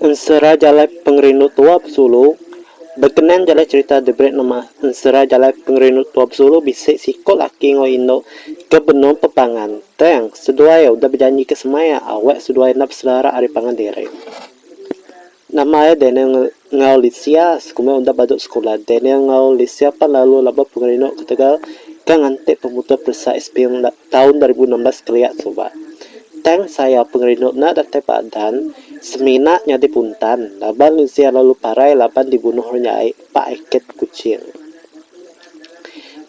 Ensera jalai pengerindu tua besulu, Bekenan jalai cherita The Great Nemah, ensera jalai pengerindu tua besulu bisi siko laki enggau indu ke benung pepangan, tang, seduai udah bejanjika semaya awak seduai enda besedara ari pangan diri. Nama ai Daniel enggau Lisia sekuma enda badu sekula. Daniel enggau Lisia pan lalu labuh pengerinu ketegal ke nganti pemutus peresa SPM enda taun dua ribu enam belas kelia suba. Tang sayau pengerinu enda datai padan semina nyadi puntan laban Lisia lalu parai laban dibunuh orang jai ba Ikit, Kuching.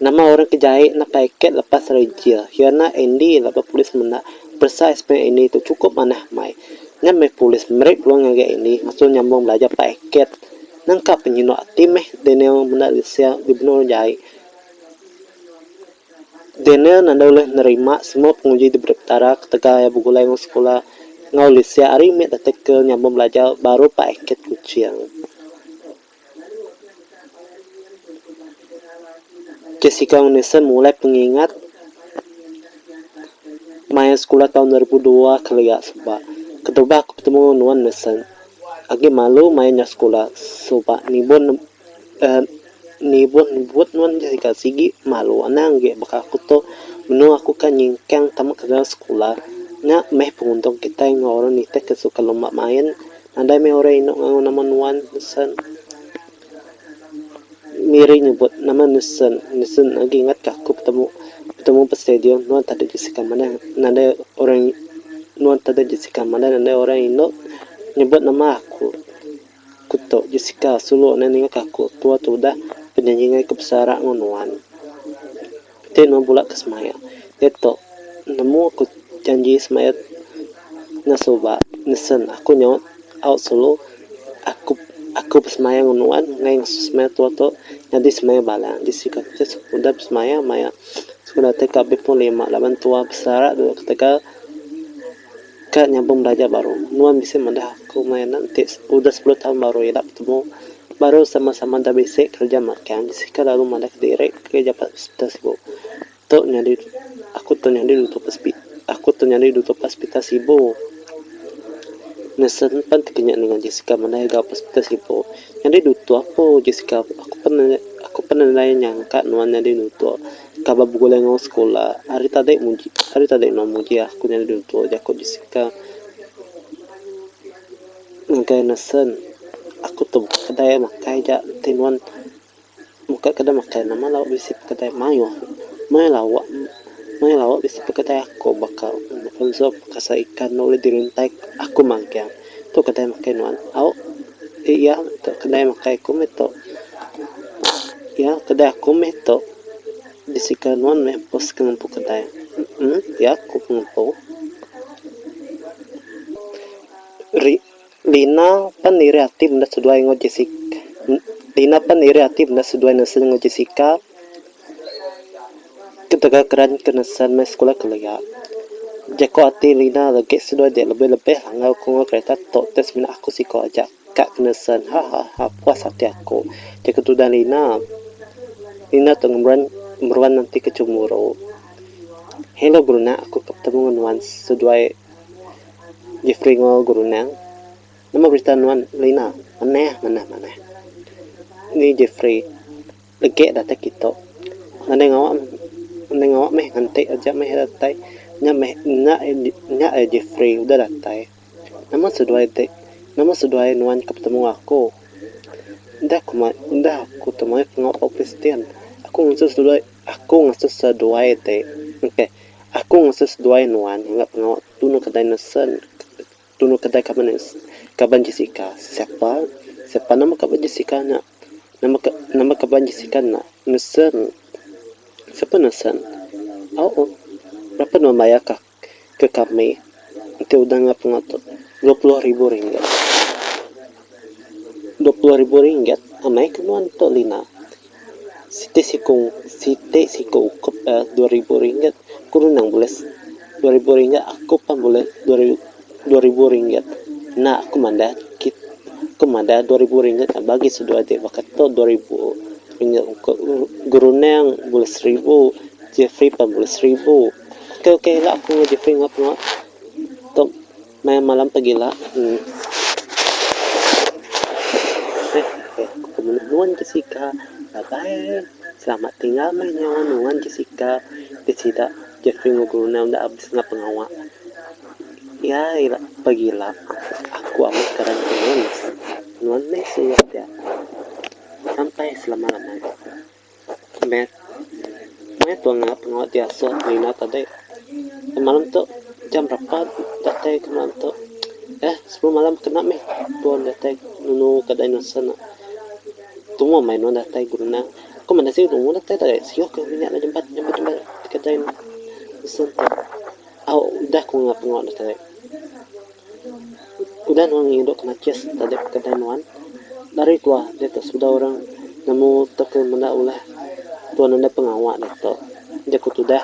Nama orang ke jai napa iket lepas ari jil iya nya Andy laban polis menda peresa SPM Andy tu chukup manah meh. Nya meh polis meri peluang ngagai Andy ngasuh nyambung belajar pah iket nangka penyino ati meh Daniel menda lesen dibeno orang jai. Daniel enda ulih nerima semua penguji diberi Petara ketegal iya begulai enggau sekula enggau lesen ari mit artikel nyambung belajar baru pah iket Kuching. Jessica enggau Nathan mulai pengingat main sekula taun dua ribu dua kelia suba ketubah aku betemu enggau nuan Nathan agi malu main nya sekula suba nibun uhh nibun nebut nuan Jessica sigi malu anang agi baka aku tu menu aku ka nyingkang tama ke dalam sekula nya meh penguntung kitai enggau orang nitihka suka lomba main. Nadai meh orang indu ngagu nama nuan, Nesen. Miri nyebut, Nama Nesen? Nesen agi ingat ka aku betemu betemu ba stadium nuan tadi Jessica manah nadai orang nuan tadi Jessica manah nadai orang indu nyebut nama aku. Aku tu Jessica sulu nadai ninga ka aku tua tudah penyanyi ngagai aku besara enggau nuan. Ti nuan bula ke semaya. Iya tu, nemu aku janji semaya enggau suba nisen aku nyaut au sulu aku aku besemaya ngan nuan ngai ngesu semaya tua tu nyadi semaya bala di sida ti sekudah besemaya maya sekudah ti ka bepun lima laban tua besara dulu ketegal. Ka nyabung belajar baru. Nuan bisi madah aku maya anak enti udah sepuluh taun baru ila betemu, baru sama-sama enda bisi kereja magang bisi ka lalu madahka diri pegui japat hospital sibu. Tu nyadi aku tu nyadi dutu hospital aku tu nyadi dutu hospital sibu. Nesen pan ti kinya ninga Jessica madai ga hospital sibu. Nyadi dutu aku Jessica aku pan aku pan enda nyangka nuan nyadi dutu. Kaba begulai enggau sekula, ari tadi muji ari tadi enda muji aku nyadi ditu jaku Jessica ngagai Nason. Aku tu buka kedai makai ja ti nuan buka kedai makai nama lawa bisi pekedai mayuh mayuh lawa mayuh lawa bisi pekedai aku baka Alfonso pasal ikan enda ulih diruntai aku magang. Tu kedai makai nuan. Au. Ti iya tu kedai makai aku meh tu. Iya kedai aku meh tu. Bisi ke nuan meh empu sik ngempu kedai. Emm. Iya ku pengempu. Ri Lina pan iri ati meda seduai enggau Jessica. Lina pan iri ati meda seduai nesel enggau Jessica. Ketegal keran ke nesan meh sekula kelia, jako ati Lina legi seduai dia lebih lebih enggau ku enggau kereta tok teh semina aku siko aja ka ke nesan hahaha puas ati aku jako tudan Lina. Lina tok ngembuan meruan enti ke cemburu. Hello Brunei aku ke betemu ngan nuan seduai Jefri enggau Guru Nang. Nama berita nuan Lina? Manah manah manah. Ni Jefri. Legi datai kitu. Ngandai ngawa ngandai ngawa meh nganti aja meh datai. Nya meh nya nya eh Jefri udah datai. Nama seduai ti nama seduai nuan ke betemu aku. Udah ku mai udah aku tu mayuh pengawa bau Kristian. Aku ngasuh seduai aku ngasuh seduai ti. Engkeh. Aku ngasuh seduai nuan ngagai pengawa tunu kedai nesen. Dulu kedai kaban nya kaban Jessica. Siapa? Siapa nama kaban Jessica nya? Nama ka, nama kaban Jessica nya? Nelson. Siapa Nelson? Au. Berapa nuan mayar ka ke kami? Enti udah enggau pengotor, dua puluh ribu ringgit. Dua puluh ribu ringgit? Amai ke nuan tu, Lina. Siti siku siti siku ukup da dua ribu ringgit ku nang bulis dua ribu ringgit aku pun bulis dua ribu ringgit enda aku madah kit aku madah dua ribu ringgit nya bagi seduai ti baka tu dua ribu ringgit ku geruneng bulis seribu Jefri pun bulis seribu okoi okoi ila aku ngau Jefri ngau pengawa tu. Maya malam tagila Peminat nuan Jessica Bye bye Selamat tinggal meh nyawa nuan Jessica Ti sida Jeffrey enggau Brunel enda abis nya pengawa Iya ira pagila Aku amat karan ke nuan Nuan meh suba ti aku Sampai selama lamanya. Math. Math tu anga pengawa biasa ti minat adi. Semalam tu jam berapa datai ke malam tu. Eh sepuluh malam kena mih tuan datai nunu ka dinosaur nya. Tumoh meh nuan datai guru nya. Ku meh nasi tumoh datai tadi. Sio ke inya nya jempat jempat jempat kedai dinosaur tu. Au udah ku pengawa ne tadi. Udah nuan ngindu ke najis tadi kedai nuan, lari keluar diatu sebedau orang nemu tauka menda ulah tuan enda pengawa diatu. Jaku tudah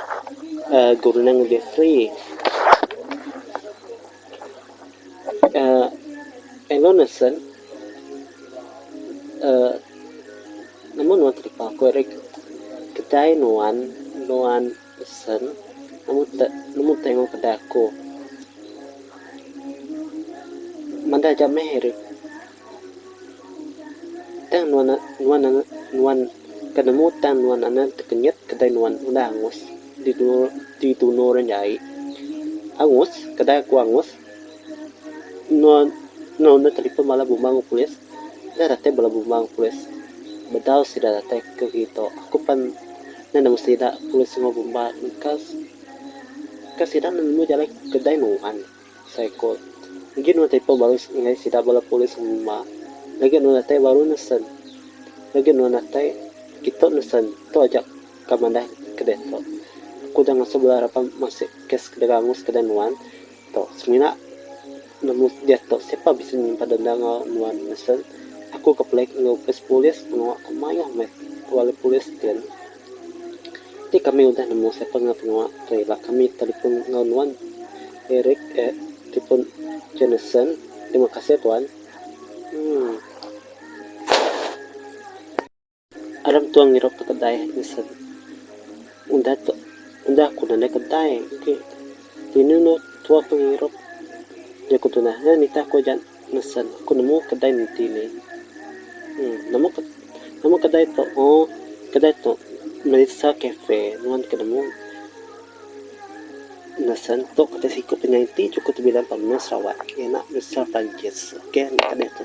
uhh geruneng lebih free. uhh elo nesen uhh nemu nuan telipa ku ari kedai nuan, nuan. Pesan, Amu te nemu tengu kedai aku. Mandah aja meh eri. Tang nuan nuan nuan ke nemu tang nuan anak tekenyit kedai nuan udah angus di di tunur jai. Angus, kedai aku angus. Nuan enggau enda telefon bala bumang polis. Enda datai bala bumang polis. Bedau sida datai ke kitu. Aku pan enda nemu sida polis enggau bumang. Ka sida nemu jalai kedai nuan. Asai ku agi nuan telefon baru nengah sida bala polis enggau bumang. Legi nuan datai baru ne sen. Legi nuan datai kitu ne sen. Tu aja. Ka madah ke diatu. Aku udah ngasuh bala raban masuk kes ke dega angus kedai nuan tu. Semina nemu diatu siapa bisi nyimpan denda enggau nuan ngesun aku ke pelik enggau opis polis pengawa ke mayuh meh bala polis din. Ti kami udah nemu siapa enggau pengawa ke ila kami telefon enggau nuan Eric eh telefon Jonathan. Terima kasih tuan. Emm. Aram Entuang ngirup ke kedai tisen. Udah tu, udah ku nadai kedai agi. Tinu enda tua ke ngirup. Nya ku tunah nya nitah ku aja nisen. Ku nemu kedai nenti ni. Uhh nama ke nama kedai tu? Ohh kedai tu Melissa Cafe. Nuan ke nemu nisen tu kati siku penyai enti juku ti bilang pan menua Sarawak. Iya nya Melissa Perancis. Okey enda tadi tu.